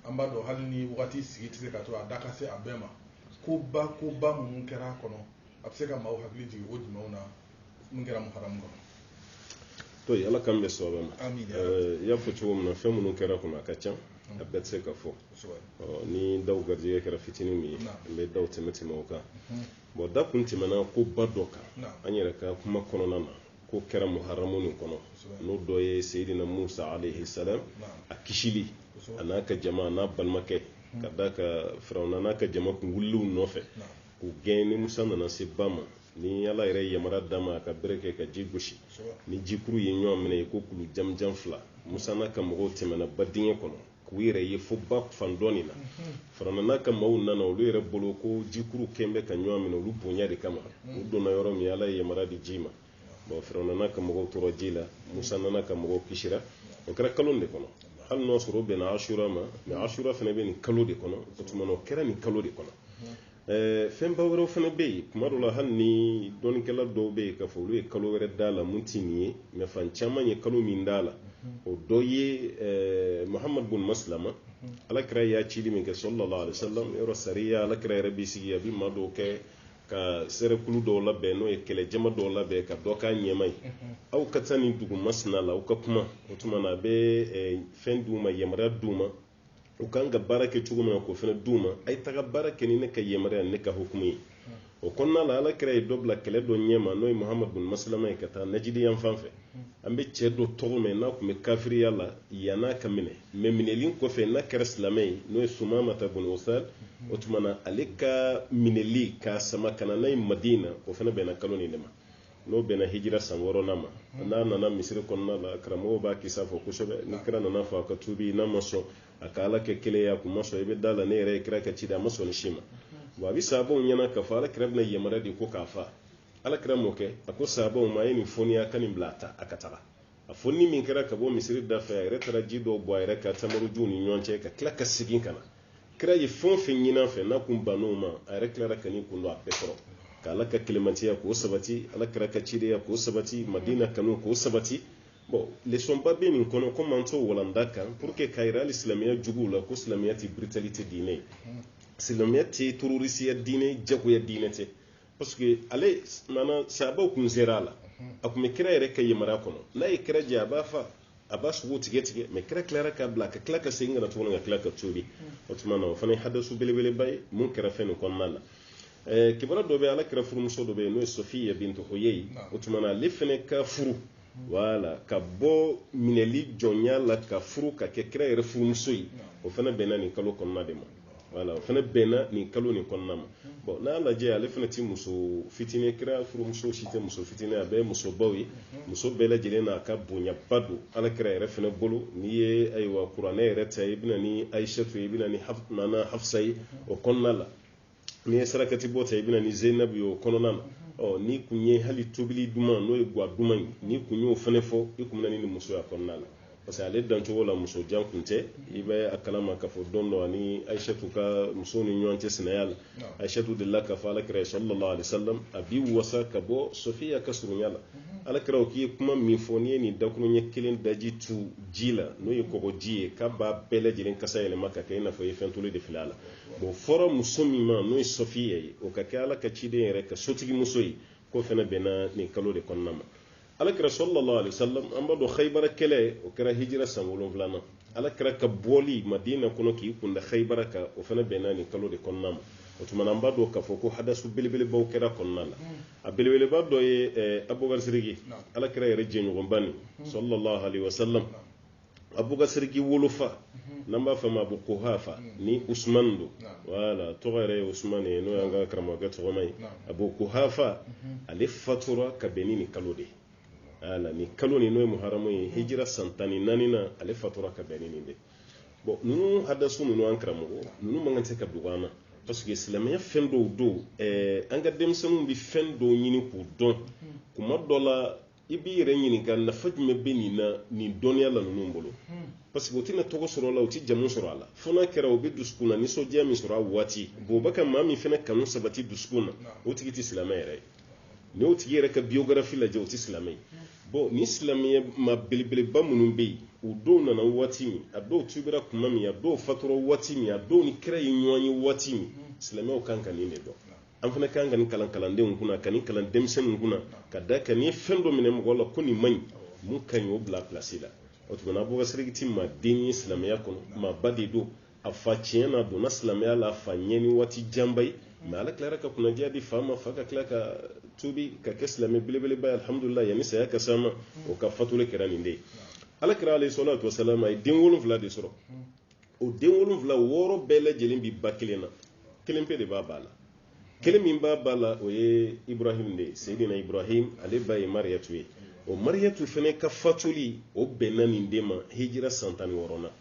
an b'a dɔn hali ni wagati sigi tɛ se ka to a da ka se a bɛɛ ma koba koba minnu kɛra a kɔnɔ a bɛ se ka maaw hakili jigin o jumɛnw na mun kɛra muharamu kɔnɔ to yen ala kan bɛ sɔrɔ ma Amin, ya Eh, i y'a fɔ cogo min na fɛn minnu kɛra kɔnɔ a ka ca a bɛɛ tɛ se ka fɔ kosɛbɛ Ɔ, ni daw garijɛgɛ kɛra fitinin min ye Naam. an bɛ daw tɛmɛ tɛmɛ o kan bon da kun tɛmɛna ko ba dɔ kan Naam. an yɛrɛ ka kuma kɔnɔna na ko kɛra muharamu nin kɔnɔ Kosɛbɛ. n'o dɔ ye seyidina musa alayhi salam Naam. a kisili Kosɛbɛ. a n'a ka jama a n'a balimakɛ ka d'a kan firawuna n'a ka jama kun wulil'u nɔfɛ Naam. k'u gɛn ni musa nana se ba ma ni ala yɛrɛ yamara d'a ma ka bere kɛ ka ji gosi ni jikuru ye ɲɔgɔn minɛ i ko kulu jamjan fila musa n'a ka mɔgɔw tɛmɛna ba dingɛ kɔnɔ k'u yɛrɛ ye fo ba fan dɔ nin na firawuna n'a ka maaw nana olu yɛrɛ bolo ko jikuru kun bɛ ka ɲɔgɔn minɛ olu bonya de kama u donna yɔrɔ min ala ye yamara di ji ma bon firawuna n'a ka mɔgɔw tora ji la musa n'a ka mɔgɔw kisira o kɛra kalo de kɔnɔ hali n'o sɔrɔ o bɛnna asura ma mais asura fana bɛ nin kalo de kɔnɔ o tuma na o kɛra nin kalo de kɔnɔ eh, fɛnba wɛrɛw fana bɛ yen kuma dɔ la hali ni dɔnnikɛla dɔw bɛ yen k'a fɔ olu ye kalo wɛrɛ d'a la min tɛ nin ye mais fan caman ye kalo min d'a la o dɔ ye eh, muhamadu bun masilama alakira y'a cili min kɛ sallallahu alaihi wasallam yɔrɔ sariya alakira yɛrɛ b'i sigi a bɛ maa dɔw kɛ ka sɛrɛkulu dɔw labɛn n'o ye kɛlɛjama dɔw labɛn ka dɔ k'a ɲɛma ye aw ka taa nin dugu masina la aw ka kuma o tuma na a bɛ eh, fɛn d'u ma yamaruya d'u ma u kan ka baara kɛ cogo min na k'o fana d'u ma a ye taga baara kɛ ni ne ka yamaruya ne ka hukumu ye o kɔnɔna la ala kira ye dɔ bila kɛlɛ dɔ ɲɛma n'o ye muhamadu bin masilama ye ka taa najidi yan fan fɛ an bɛ cɛ dɔ tɔgɔ mɛn n'a tun bɛ kafiriya la yann'a ka minɛ mais minɛli kɔfɛ n'a kɛra silamɛ ye n'o ye sumamata bun usali o tuma na ale ka minɛli k'a sama ka na n'a ye madina o fana bɛnna kalo nin de ma n'o bɛnna hijira san wɔɔrɔnan ma n'a nana misiri kɔnɔna la karamɔgɔw b'a kisa fɔ kosɛbɛ ni kira nana fɔ a ka tuubi n'a ma sɔn a ka ala kɛ kelen ye a kun ma sɔn i bɛ d'a la ne yɛrɛ ye kira ka ci a ma sɔn nin si ma bon a bɛ sahabaw ɲɛna k'a fɔ ala kira bɛna yamaruya di ko k'a fa ala kira m'o kɛ a ko sahabaw ma a ye nin foni a ka nin bila a ta a ka taga a foni min kɛra ka bɔ misiri da fɛ a yɛrɛ taara ji dɔw bɔn a yɛrɛ kan tamarojuw ni ɲɔgɔn cɛ ka tila ka segin ka na kira ye fɛn o fɛn ɲin'a fɛ n'a kun bann'o ma a yɛrɛ tilara ka n'i kun don a bɛɛ kɔrɔ ka ala ka kelemantiya k'o sabati ala kira ka cidenya k'o sabati madina kanu k'o sabati bon leçon ba bɛ nin kɔnɔ komi an t'o walanda kan pour que k'a yira hali silamɛya juguw la ko silamɛya tɛ brutalité diinɛ ye silamɛya tɛ terorisiya diinɛ jagoya diinɛ tɛ parce que ale maana sahabaw kun sera a la a kun bɛ kira yɛrɛ ka yamaruya kɔnɔ n'a ye kira jɛ a b'a fa a b'a sogo tigɛ tigɛ mais kira tilara k'a bila ka tila ka segin ka na tuguni ka tila ka tuubi o tuma na o fana ye hadasu belebeleba ye min kɛra fɛn nin kɔnɔna na eh, kibaru dɔ bɛ ala kira furumuso dɔ bɛ yen n'o ye sofiya bintu huyayi o tuma na ale fana ka furu wala ka bɔ minɛli jɔnya la ka furu ka kɛ kira yɛrɛ furumuso ye o fana bɛnna nin kalo kɔnɔna de ma wala o fana bɛnna nin kalo nin kɔnɔna ma bon n'a lajɛ ale fana tɛ muso fitinin kira furumuso si tɛ muso fitinin a bɛɛ ye musobaw ye muso bɛɛ lajɛlen n'a ka bonyaba don ala kira yɛrɛ fana bolo n'i ye ayiwa kuranɛ yɛrɛ ta i bɛna ni ayisatu ye i bɛna ni nana hafisa ye o kɔnɔna la n'i ye sarakati bɔ ta i bɛna ni zenabu ye o kɔnɔna na ɔ n'i kun ye hali tobili duman n'o ye gwa duman ye n'i kun y'o fana fɔ i kun bɛna ni muso y'a kɔnɔna la parce que ale dancogo la muso jan kun tɛ i bɛ a kalama k'a fɔ don dɔ a ni ayisatu ka muso ni ɲɔgɔn cɛ sinaya la ayisatu delila k'a fɔ alakira ye sallallahu alaihi wasallam a b'i wasa ka bɔ sofiya ka surunya la alakira ko k'i ye kuma min fɔ n'i ye nin dakuruɲɛ kelen daji tu ji la n'o ye kɔgɔji ye k'a b'a bɛɛ lajɛlen kasa yɛlɛma ka kɛ i n'a fɔ i ye fɛn toli de fili a la bon fɔra muso min ma n'o ye sofiya ye o ka kɛ ala ka ciden yɛrɛ ka sotigi muso ye k'o fana bɛnna nin kalo de kɔnɔna ma alakira sallallahu alaihi wasallam an b'a dɔn haibara kɛlɛ o kɛra hijira san wolonwula na alakira ka bɔli madina kɔnɔ k'i kunda haibara kan o fana bɛnna nin kalo de kɔnɔna ma o tuma na an b'a dɔn k'a fɔ ko hadasu belebelebaw kɛra a kɔnɔna la a belebeleba dɔ ye eh, abubakar siriki alakira yɛrɛ jɛɲɔgɔnba nin sallallahu alaihi wasallam abubakar siriki wolofa n'an b'a fɔ a ma abu kuhafa ni usman don wala tɔgɔ yɛrɛ ye usman ye n'o y'an ka karamɔgɔkɛ tɔgɔma ye abu kuhafa ale fatura ka bɛn ni nin kalo de ala ni kalo ni n'o ye muharamu ye hijira san tan ni naani na ale fatura ka bɛn ni nin de bon ninnu hadasu ninnu an karamɔgɔ ninnu man kan tɛ ka dogo an na parce que silamɛya fɛn dɔw don an ka denmisɛnninw bɛ fɛn dɔw ɲini k'u dɔn kuma dɔ la i b'i yɛrɛ ɲininka nafa jumɛn bɛ nin na nin dɔnniya la ninnu bolo parce que u tɛna tɔgɔ sɔrɔ a la u tɛ jamu sɔrɔ a la fo n'a kɛra u bɛ dusukun na nisɔndiya min sɔrɔ a waati bon u bɛ ka maa min fana kanu sabati dusukun na o tigi tɛ silamɛ yɛrɛ ye n'i y'o tigi yɛrɛ ka biographie lajɛ o tɛ silamɛ ye bon ni silamɛya maa belebeleba minnu bɛ yen u dɔw nana waati min a dɔw tubira kuma min a dɔw fatura waati min a dɔw ni kira ye ɲɔgɔn ye waati min silamɛw kan ka nin de dɔn an fana kan ka nin kalan kalandenw kunna ka nin kalan denmisɛnninw kunna ka d'a kan n'i fɛn dɔ minɛ mɔgɔ la ko nin man ɲi min ka ɲi o bila pilasi la o tuma na abubakar sidiki ti maa den ye silamɛya kɔnɔ maa ba de don a fa tiɲɛ na a donna silamɛya la a fa ɲɛ ni waati janba ye mais ala tilara ka kunnadiya di fa ma fa ka tila ka tubi ka kɛ silamɛ belebeleba ye alhamdulila yanni saya ka s'a ma o ka fatuli kɛra nin de ye ala kira alayhi salatu wasalam a ye den wolonfila de sɔrɔ o den wolonwula wɔɔrɔ bɛɛ lajɛlen bi ba kelen na kelen pe de b'a ba la kelen min b'a ba la o ye ibrahim de ye seydina ibrahim ale ba ye mariyatu ye o mariyatu fana ka fatuli o bɛnna nin de ma hijira san tan ni wɔɔrɔnan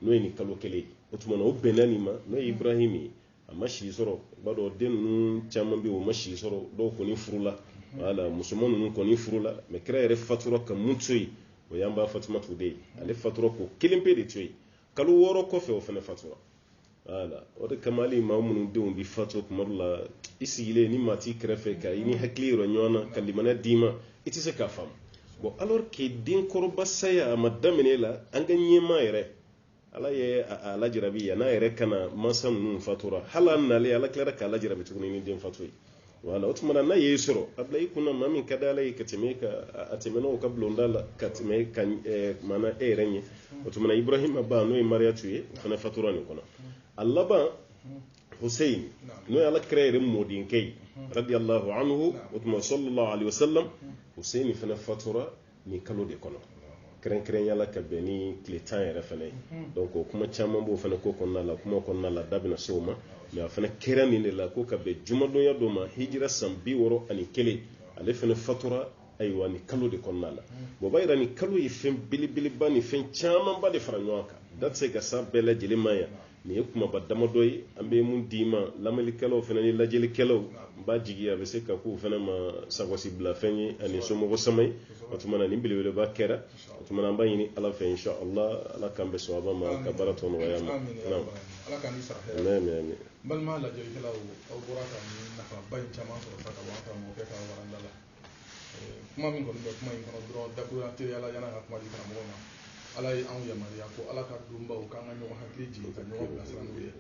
n'o ye nin kalo kelen ye o tuma na o bɛnna nin ma n'o ye ibrahim ye a ma si sɔrɔ b'a dɔn den ninnu caman bɛ o ma si sɔrɔ dɔw kɔni furula wala musoman ninnu kɔni furula mais kira yɛrɛ fatura ka mun to yen o y'an ba fatumatu de ye ale fatura k'o kelen pe de to yen kalo wɔɔrɔ kɔfɛ o fana fatura wala o de kama hali maa minnu denw bɛ fatu kuma dɔ la i sigilen ni maa t'i kɛrɛfɛ ka i ni hakili yɔrɔ ɲɔgɔn na ka limaniya d'i ma i tɛ se k'a faamu bon alors que denkɔrɔba saya a ma daminɛ la an ka ɲɛmaa yɛrɛ ala ye a lajarabi yan'a yɛrɛ ka na mansa ninnu fatura hali a nalen ala tilara k'a lajarabi tuguni ni den fatu ye wala o tuma na n'a y'e sɔrɔ a bila i kunna maa min ka di ala ye ka tɛmɛ ka a tɛmɛn'o ka bulonda la ka tɛmɛ ka maana e yɛrɛ ɲɛ o tuma na ibrahima ba n'o ye mariyatu ye o fana fatura nin kɔnɔ a laban husein n'o ye ala kira yɛrɛ mɔdenkɛ ye radiyallahu anhu o tuma sallallahu alaihi wasallam husein fana fatura nin kalo de kɔnɔ kɛrɛnkɛrɛnya la ka bɛn ni tile tan yɛrɛ fana ye donc o kuma caman b'o fana ko kɔnɔna la kuma kɔnɔna la da bɛna se o ma mais a fana kɛra nin de la ko ka bɛn jumadonya dɔ ma hijira san bi wɔɔrɔ ani kelen ale fana fatura ayiwa nin kalo de kɔnɔna la bon b'a yira nin kalo ye fɛn belebeleba ni fɛn camanba de fara ɲɔgɔn kan da tɛ se ka s'a bɛɛ lajɛlen ma yan nin ye kumaba damadɔ ye an bɛ min d'i ma lamɛnnikɛlaw fana ni lajɛlikɛlaw n b'a jigi a bɛ se ka k'u fana ma sagosi bilafɛn ye ani somɔgɔ sama ye o tuma na nin belebeleba kɛra o tuma na an b'a ɲini ala fɛ insha allah ala k'an bɛn sawaba ma ka baara tɔ nɔgɔya an ma kuma min kɔni bɛ kuma in kɔnɔ dɔrɔn dakuruya teliya la yan'an ka kuma di karamɔgɔ ma ala ye anw yamaruya ko ala ka donbaw k'an ka ɲɔgɔn hakili jigin ka ɲɔgɔn bilasira n'u ye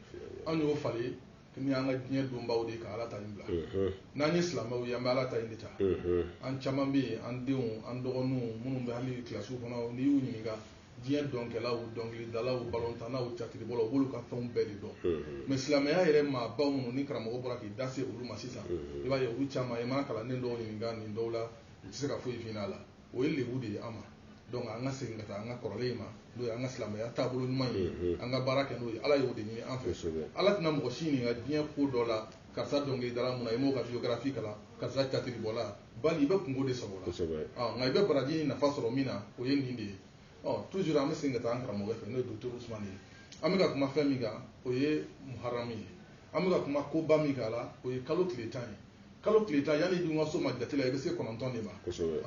anw y'o falen ni an ka diɲɛ donbaw de ka ala ta in bila n'an ye silamɛw ye an bɛ ala ta in de ta an caman bɛ yen an denw an dɔgɔninw minnu bɛ hali kilasiw kɔnɔ n'i y'u ɲininka diɲɛ dɔnkɛlaw dɔnkilidalaw balontannaw catiribɔlaw u b'olu ka fɛnw bɛɛ de dɔn mais silamɛya yɛrɛ maabaw minnu ni karamɔgɔ bɔra k'i da se olu ma sisan i b'a ye olu caman i mana kalanden dɔw ɲininka nin dɔw la u tɛ se ka foyi f'i la o ye lebu de ye an ma donc an ka segin ka taa an ka kɔrɔlen in ma n'o ye an ka silamɛya taabolo ɲuman ye an ka baara kɛ n'o ye ala y'o de ɲini an fɛ ala tɛna mɔgɔ si ɲininka diɲɛ ko dɔ la karisa dɔnkilidala mun na i m'o ka biographie kalan karisa catiribɔla bali i bɛ kunko de sɔr'a la nka i bɛ baraji nafa sɔrɔ min na o ye nin de ye toujours an bɛ segin ka taa an karamɔgɔ fɛ n'o ye docteur usmane ye an bɛ kan ka kuma fɛn min kan o ye muharamu ye an bɛ kan ka kuma koba min kan a la o ye kalo tile tan ye kalo tile tan yanni i dun ka s'o ma jate la i bɛ se kɔnɔntɔn de ma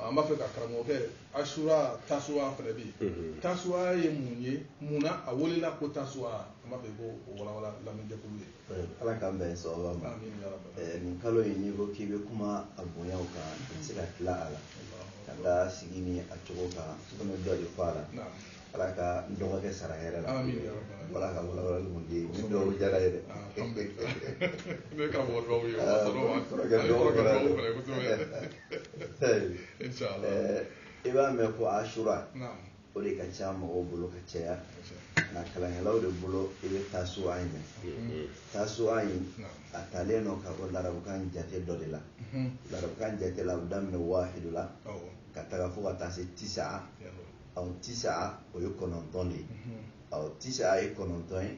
an b'a fɛ ka karamɔgɔkɛ asura tasuwa fana bɛ yen tasuwa ye mun ye mun na a welela ko tasuwa an b'a fɛ k'o walawala jɛkulu ye ala k'an bɛn sawaba ma nin kalo in n'i ko k'i bɛ kuma a bonyaw kan i tɛ se ka tila a la ka da sigi ni a cogo kan komi dɔ de fɔ a la ala ka n dɔgɔkɛ sara hɛrɛ la ala ka walawala mun di ni dɔw jara ye dɛ ne ka mɔgɔ dɔw ye kɔrɔkɛ dɔw fana don i b'a mɛn ko asura o de ka ca mɔgɔw bolo ka caya nka kalankɛlaw de bolo i bɛ tasuwa in mɛn tasuwa in a taalen don ka bɔ larabukan jate dɔ de la larabukan jate la a bɛ daminɛ waahidu la ka taga fo ka taa se tisa aw tisa o ye kɔnɔntɔn de ye aw tisa ye kɔnɔntɔn ye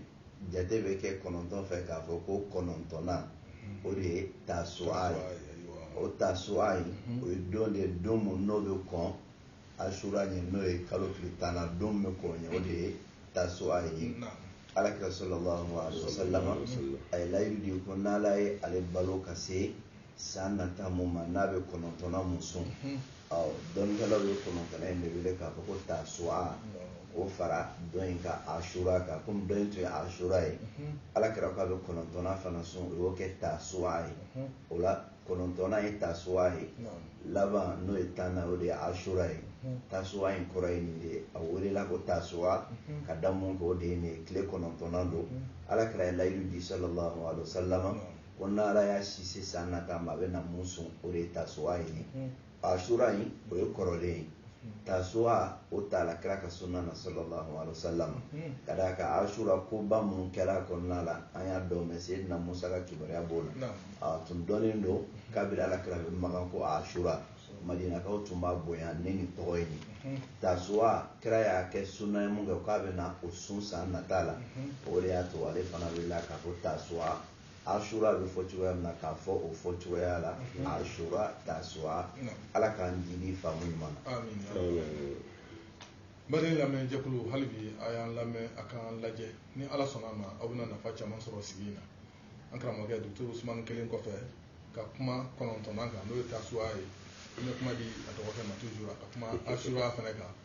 jate bɛ kɛ kɔnɔntɔn fɛ k'a fɔ ko kɔnɔntɔnnan o de ye tasuwa ye o tasuwa in o ye don de ye don mun n'o bɛ kɔn asura ɲɛ n'o ye kalo tile tannan don bɛ kɔn o ɲɛ o de ye tasuwa ye alakira sallallahu alaihi wasallam a ye layidu di ko n'ala ye ale balo ka se san nata mun ma n'a bɛ kɔnɔntɔnnan mun sun ɔ dɔnnikɛlaw ye kɔnɔntɔnnan in de wele k'a fɔ ko tasuwa k'o fara dɔ in kan asura kan komi dɔ in tun ye asura ye alakira k'a bɛ kɔnɔntɔnnan fana sun o y'o kɛ tasuwa ye o la kɔnɔntɔnnan ye tasuwa ye laban n'o ye tannan o de ye asura ye tasuwa in kɔrɔ ye nin de ye a welela ko tasuwa ka da mun kan o de ye nin ye tile kɔnɔntɔnnan don ala kira ye layidu di sallallahu alaihi wasallam ko n'ala y'a si se san nata ma a bɛna mun sun o de ye tasuwa ye asura in o ye kɔrɔlen ye tasuwa o taala kira ka sunna na sallallahu alaihi wasallam hmm. ka d'a kan asura koba minnu kɛra a kɔnɔna la an y'a dɔ mɛn seyidina musa ka kibaruya b'o la a tun dɔnnen don kabiri ala kira bɛ makan ko asura madinakaw tun b'a bonya ni nin tɔgɔ ye hmm. tasuwa kira y'a kɛ sunna ye mun kɛ k'a bɛna o sun san nata la hmm. o de y'a to ale fana welela k'a fɔ tasuwa asura bɛ fɔ cogoya min na k'a fɔ o fɔ cogoya la asura tasua ala k'an jigi faamu ɲuman na bari lamɛn jɛkulu hali bi a y'an lamɛn a k'an lajɛ ni ala sɔnna a ma aw bɛna nafa caman sɔrɔ sigi in na an karamɔgɔkɛ docteur usumani kɛlen kɔfɛ ka kuma kɔnɔntɔnnan kan n'o ye tasua ye an bɛ kuma di a dɔgɔkɛ ma toujours a ka kuma asura fana kan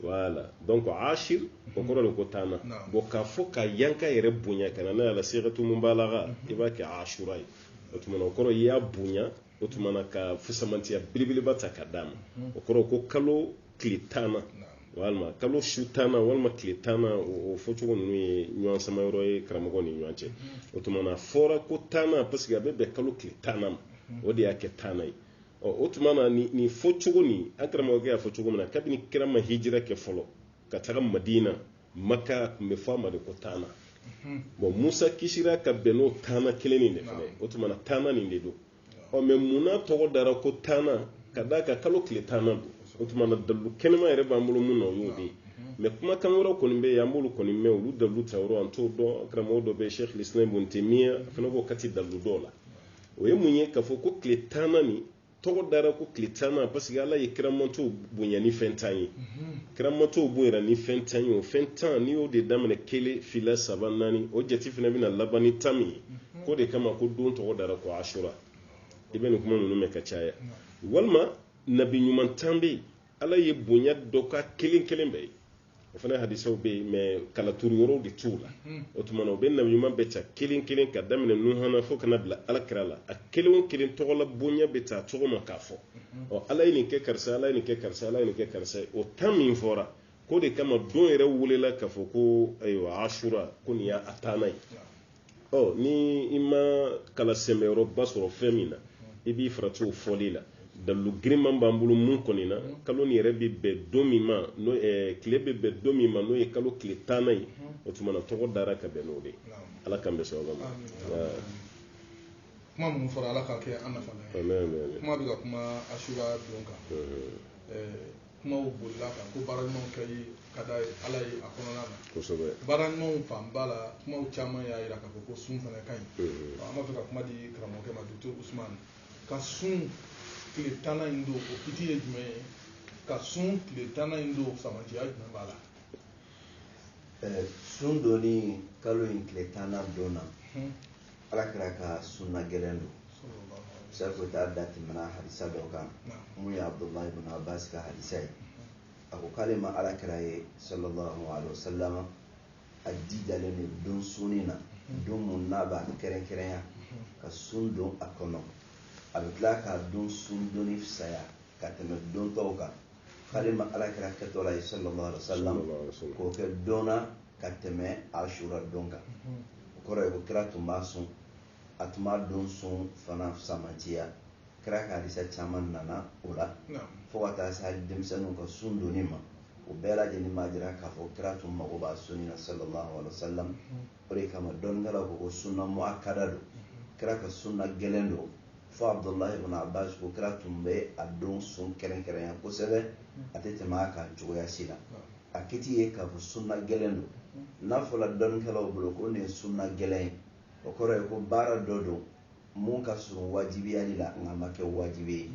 voilà donc ashir o kɔrɔ de ko tannan bon k'a fɔ ka ɲa k'a yɛrɛ bonya ka na n'a ye ala sigatu mubalaga mhm. i b'a kɛ ashura ye o tuma na o kɔrɔ i y'a bonya o tuma na ka fusamantiya belebeleba ta ka d'a ma mhm. o kɔrɔ ko kalo tile tannan walima kalo su tannan walima tile tannan o fɔcogo ninnu ye ɲɔgɔn sama yɔrɔ ye karamɔgɔw ni ɲɔgɔn cɛ mhm. o tuma na fɔra ko tannan parce que a bɛ bɛn kalo tile tannan ma o de y'a kɛ tannan ye ɔ o tuma na nin nin fɔ cogo nin an karamɔgɔkɛ y'a fɔ cogo min na kabini kira ma hijira kɛ fɔlɔ ka taga madina maka tun bɛ fɔ a ma de ko tanna bon musa kisira ka bɛn n'o tanna kelen nin de fana o tuma na tanna nin de don ɔ mais mun na tɔgɔ dara ko tanna ka d'a kan kalo tile tanna don o tuma na dalu kɛnɛma yɛrɛ b'an bolo mun na o y'o de ye mais kumakan wɛrɛw kɔni bɛ yen an b'olu kɔni mɛn olu dalu ta yɔrɔ an t'o dɔn karamɔgɔ dɔ bɛ sheikh lislam ibn taymiya a fana b'o kati dalu dɔw la o ye mun ye k'a fɔ ko tile tanna nin tɔgɔ dara ko tile tanna parce que ala ye kiramantɔw bonya ni fɛn tan ye kiramantɔw bonyana ni fɛn tan ye o fɛn tan n'i y'o de daminɛ kelen fila saba naani o jate fana bɛna laban ni tan min ye k'o de kama ko don tɔgɔ dara ko asura i bɛ nin kuma ninnu mɛn ka caya walima nabi ɲuman tan bɛ yen ala ye bonya dɔ k'a kelen kelen bɛɛ ye o fana hadisaw bɛ yen mais kala turu yɔrɔw de t'u la o tuma na u bɛ nabi ɲuman bɛɛ ta kelen kelen ka daminɛ nuha na fo ka na bila ala kira la a kelen o kelen tɔgɔ la bonya bɛ taa cogo ma k'a fɔ ɔ ala ye nin kɛ karisa ala ye nin kɛ karisa ala ye nin kɛ karisa ye o tan min fɔra k'o de kama don yɛrɛ welela k'a fɔ ko ayiwa asura ko nin y'a tanna ye ɔ ni i ma kala sɛmɛyɔrɔba sɔrɔ fɛn min na i b'i farati o fɔli la dalu girinman b'an bolo mun kɔni na kalo nin yɛrɛ bɛ bɛn don min ma n'o eh, tile bɛ bɛn don min ma n'o ye kalo tile tanna ye o tuma na tɔgɔ dara ka bɛn n'o de ye ala k'an bɛn sawaba ma kuma minnu fɔra ala k'a kɛ an nafa ye kuma bɛ ka kuma asura don kan kumaw bolila kan ko baara ɲumanw kɛli ka di ala ye a kɔnɔna na kosɛbɛ baara ɲumanw fanba la kumaw caman y'a jira k'a fɔ ko sun fana ka ɲi mhm. an b'a fɛ ka kuma di karamɔgɔkɛ ma docteur ousmane ka sun tile tanna in don o kiti ye jumɛn ye ka sun tile tanna in don samantiya jumɛn b'a la eh, sun donni kalo in tile tanna don na mhm. ala kira ka sunna gɛlɛn don sabu ta da tɛmɛna hadisa dɔ kan mun ye abdullahi ibn abbas ka hadisa ye a ko k'ale ma ala kira ye sallallahu alaihi wasallam a jijalen don don sunni na don mun n'a b'a kɛrɛnkɛrɛnya ka sun don a kɔnɔ a bɛ tila k'a don sun donni fisaya ka tɛmɛ don tɔw kan k'ale ma ala kira kɛtɔ la ye sallallahu alaihi wasallam k'o kɛ don na ka tɛmɛ asura don kan o kɔrɔ ye ko kira tun b'a sun a tun b'a don sun fana samantiya kira ka hadisa caman nana o la fo ka taa se hali denmisɛnninw ka sun donni ma o bɛɛ lajɛlen b'a jira k'a fɔ kira tun mago b'a sunni na sallallahu alaihi wasallam o de kama dɔnnikɛlaw ko ko sunna muakkada don kira ka sunna gɛlɛn don fo abdullah ibn abbas ko kira tun bɛ a don sun kɛrɛnkɛrɛnya kosɛbɛ a tɛ tɛmɛ a kan cogoya si la a kiti ye k'a fɔ sunna gɛlɛn don n'a fɔra dɔnnikɛlaw bolo ko nin ye sunna gɛlɛn ye o kɔrɔ ye ko baara dɔ don mun ka surun wajibiyali la nka ma kɛ wajibi ye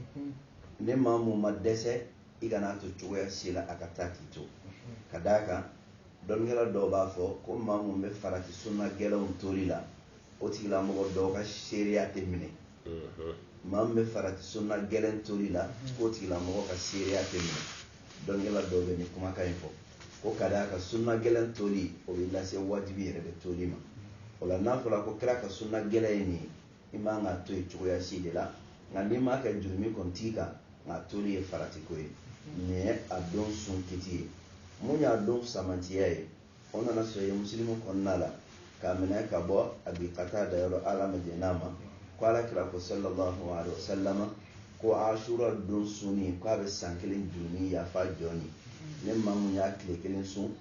ne maa mun ma dɛsɛ i kana to cogoya si la a ka taa k'i to ka d'a kan dɔnnikɛla dɔw b'a fɔ ko maa mun bɛ farati sunna gɛlɛnw toli la o tigilamɔgɔ dɔw ka seereya tɛ minɛ maa min bɛ farati sunna gɛlɛn toli la k'o tigilamɔgɔ ka seereya tɛ minɛ dɔnnikɛla dɔw bɛ nin kumakan in fɔ ko ka d'a kan sunna gɛlɛn toli o bɛ lase wajibi yɛrɛ de toli ma o la n'a fɔra ko kira ka sunna gɛlɛn ye nin ye i man k'a to yen cogoya si de la nka n'i m'a kɛ jurumi kɔni t'i kan nka a toli ye faratiko ye nin ye a don sun kiti ye mun y'a don fisamantiya ye o nana sahihi musilimu kɔnɔna la k'a minɛ ka bɔ abi katada yɔrɔ ala ma jɛn'a ma ko ala kira ko sallallahu alaihi wasallama ko asura don sunni k'a bɛ san kelen jurumi yafa jɔn ye ne maa mun y'a tile kelen sun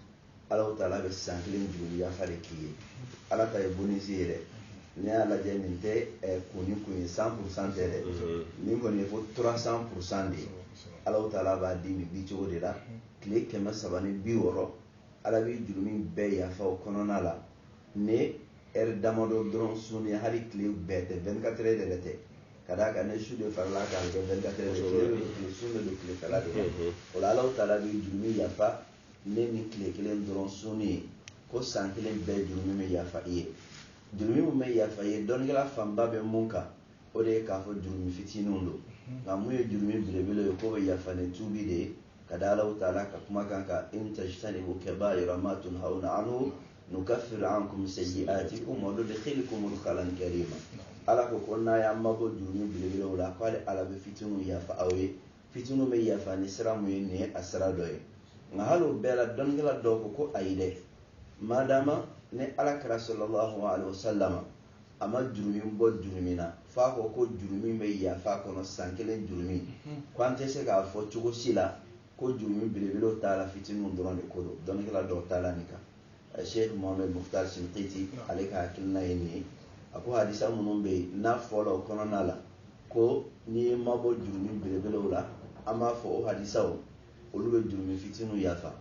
ala taala bɛ san kelen jurumi yafa de k'i ye ala ta ye bonisi ye dɛ n'i y'a lajɛ nin tɛ eh, kun ni kun ye cent pour cent tɛ dɛ mm-hmm. nin kɔni ye fo trois cents pour cent de ye ala taala b'a di nin dicogo de la tile kɛmɛ saba ni bi wɔɔrɔ Ala b'i jurumi bɛɛ yafa o kɔnɔna la ne ɛri damadɔ dɔrɔn sunni hali tile bɛɛ tɛ vingt-quatre heures yɛrɛ tɛ ka d'a kan ne su de farala kan kɛ vingt-quatre heures tile sun de don tile fɛla de o la ala taala b'i jurumi yafa ne ni tile kelen dɔrɔn sunni ye ko san kelen bɛɛ jurumi bɛ yafa i ye jurumi min bɛ yafa i ye dɔnnikɛla fanba bɛ mun kan o de ye k'a fɔ jurumi fitininw don nka mun ye jurumi belebele ye k'o bɛ yafa ni tuubi de ye ka da ala taala ka kumakan kan in tajtanibu kaba'ira ma tunhawna anhu nukaffir ankum sayyi'atikum wa nudkhilkum mudkhalan karima ala ko ko n'aw y'aw mabɔ jurumi belebelew la k'ale ala bɛ fitininw yafa aw ye fitininw bɛ yafa ni sira mun ye nin ye a sira dɔ ye nka hali o bɛɛ la dɔnnikɛla dɔw ko ko ayi dɛ madama ni ala kira sallallahu alaihi wasallam a ma jurumi bɔ jurumi na f'a ko ko jurumi bɛ yafa kɔnɔ san kelen jurumi mhm. ko an tɛ se k'a fɔ cogo si la ko jurumi belebelew t'a la fitininw dɔrɔn de ko don dɔnnikɛla dɔw taala nin kan eh, sheikh mohamed mukhtar shinqiti ale ka hakilina ye nin ye a ko hadisa minnu bɛ yen n'a fɔla o kɔnɔna la ko n'i y'i mabɔ jurumi belebelew la an b'a fɔ o hadisaw olu bɛ jurumi fitininw yafa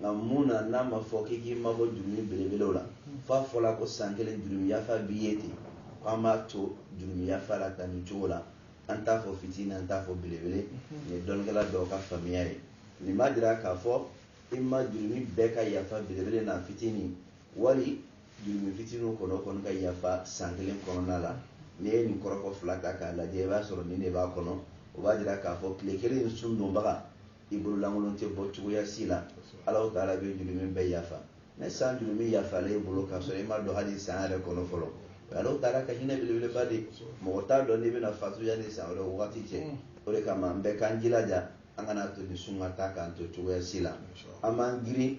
nka mun na n'a ma fɔ k'i k'i mabɔ jurumi belebelew la f'a fɔla ko san kelen jurumi yafa b'i ye ten ko an b'a to jurumi yafa la tan nin cogo la an t'a fɔ fitini an t'a fɔ belebele nin ye dɔnnikɛla dɔw ka faamuya ye nin b'a jira k'a fɔ i ma jurumi bɛɛ ka yafa belebele n'a fitini wali jurumi fitiniw kɔnɔ o kɔni ka yafa san kelen kɔnɔna la n'i ye nin kɔrɔfɔ fila ta k'a lajɛ i b'a sɔrɔ nin de b'a kɔnɔ o b'a jira k'a fɔ tile kelen in sun donbaga i bololankolon tɛ bɔ cogoya si la ala taala bɛ jurumin bɛɛ yafa ɲɛ san jurumin yafalen i bolo k'a sɔrɔ i ma don hali san yɛrɛ kɔnɔ fɔlɔ ala taala ka hinɛ belebeleba de mɔgɔ t'a dɔn n'i bɛna fatu yanni san wɛrɛ wagati cɛ mm. o de kama an bɛɛ k'an jilaja an kana to nin sun ka taa k'an to cogoya si la an b'an girin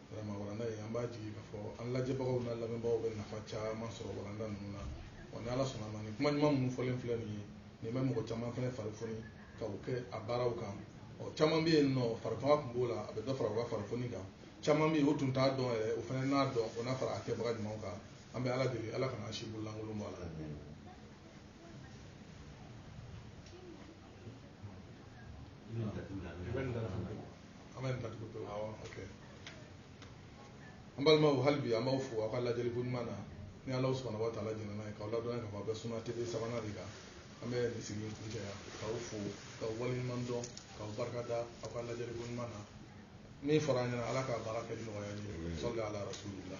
Vraiment walanda in an b'a jigi k'a fɔ an lajɛbagaw n'a lamɛnbagaw bɛ nafa caman sɔrɔ walanda ninnu na wa ni Ala sɔnna a ma nin kuma ɲuman minnu fɔlen filɛ nin ye nin bɛ mɔgɔ caman fana fari foni ka u kɛ a baaraw kan ɔ caman bɛ yen nɔ farifanga tun b'o la a bɛ dɔ fara u ka fari foni kan caman bɛ yen o tun t'a dɔn yɛrɛ o fana n'a dɔn o na fara a kɛbaga ɲumanw kan an bɛ Ala deli Ala kana an si bololankolon bɔ a la an bɛ nin ta tugu pewu awɔ ok an balimaw hali bi an b'aw fo aw ka lajɛli ko ɲuman na ni ala subhanahu wa taala jɛnna n'a ye k'aw ladɔnya k'a fɔ aw bɛ suna tv sabanan de kan an bɛ nin sigi kuncɛ yan k'aw fo k'aw waleɲuman dɔn k'aw barika da aw ka lajɛli ko ɲuman na min fɔra an ɲɛna ala k'a baara kɛ ni nɔgɔya ye salli ala rasulila